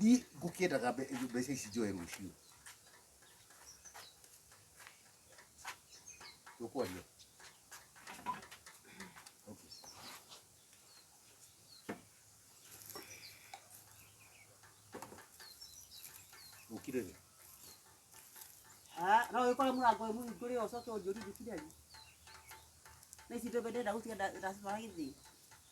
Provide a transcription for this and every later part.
Ni ngũkĩendaga mbe- mbeca ici njoe rũciũ. Tũkwaria. Okay. Ũkire rĩ? Ah, no wĩkore mũrango wĩ mũhingũre ũcoke ũnjũri njũkire rĩ na ici ndũmbe ndenda gũtiga nda- ndacibara gĩthĩ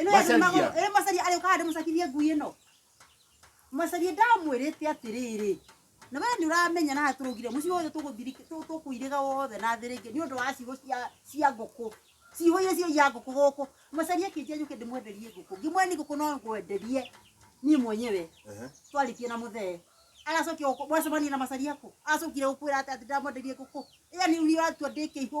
ĩno ĩrĩ magũrũ Macaria. ĩrĩ macaria arĩ ũkahande mũcakirie ngui ĩno macaria ndamwĩrĩte atĩrĩrĩ na we nĩ ũramenya na tũrũgire mũciĩ wothe tũgũthirika- tũ- tũkũirĩga wothe na thĩ rĩngĩ nĩ ũndũ wa ciugo cia- cia ngũkũ ciugo iria ciaia ngũkũ gũkũ macaria kĩnjia njũke ndĩmwenderie ngũkũ ngĩmwe nĩ ngũkũ no ngwenderie niĩ mwenyewe Ehe. twarĩtie na mũthee agacokia gũkũ mwacemania na macaria kũ acokire gũkwĩra atĩ atĩ ndamwenderie ngũkũ ĩya nĩ ũria ũratua ndĩkĩihũ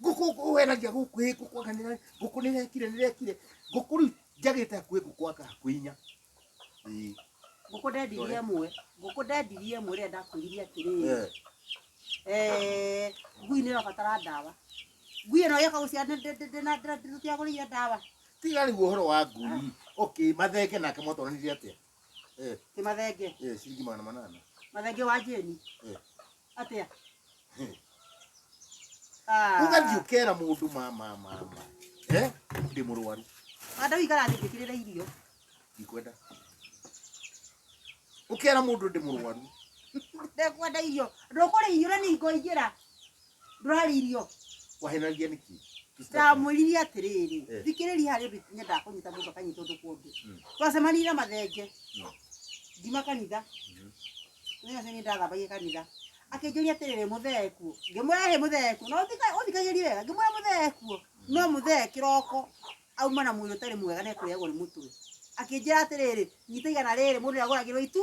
ngũkũ weragia gũkũ ĩ ngũkũ anga nĩra- ngũkũ nĩrekire nĩrekire ngũkũ rĩu njagĩte hakuhĩ ngũkũ anga hakuhĩ inya Ĩĩ. ngũkũ ndendirie ĩmwe ngũkũ ndendirie ĩmwe rĩrĩa ndakwĩrire atĩrĩrĩ Eh. Eh, ngui nä rabatara ndawa ngui ä no yaka gå ciara ndätiagå rä ire ndawa tiga rĩu ũhoro wa ngui okay mathenge nake mwatonanire atĩa Eh, Ti mathenge. eh, shilingi magana manana. Mathenge wa jeni. Eh. Atia. Eh. Ah. Ugathiĩ ũkera mũndũ ma ma ma ma. Eh, ndĩ mũrwaru. Anda wikara thĩ njĩkĩrĩre irio. Ndikwenda. Ũkera mũndũ ndĩ mũrwaru. Ndekwenda irio. Ndũkũrĩ irio na nĩ ngoingĩra. ndũrarĩa irio wahenanagia nĩkĩ ndamwĩrire atĩrĩrĩ Eh. thikĩrĩria harĩ ũndũ nyendaga kũnyita mũndũ akanyita ũndũ kũndũ Mm. twacemanire na mathenge Mm. ngima kanitha Mhm. nĩyo nĩ ndathambagia kanitha akĩnjũria atĩrĩrĩ mũthee kuo ngĩmwĩra hĩ mũthee kuo no thika- ũthikagĩrie wega ngĩmwĩra mũthee kuo no mũthee kĩroko auma na mwĩrĩ ũtarĩ mwega nekũrĩagwo nĩ mũtwe akĩnjĩra atĩrĩrĩ nyita igana rĩrĩ mũndũ nĩagũragĩrwo itu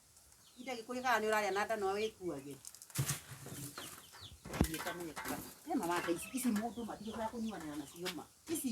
Ida gĩkũyũ kana nĩ ũrarĩa na nda no wĩkuage. He mama ata ici ici mũndũ ma ndigũcoka kũnyuanĩra nacio ma. Ici.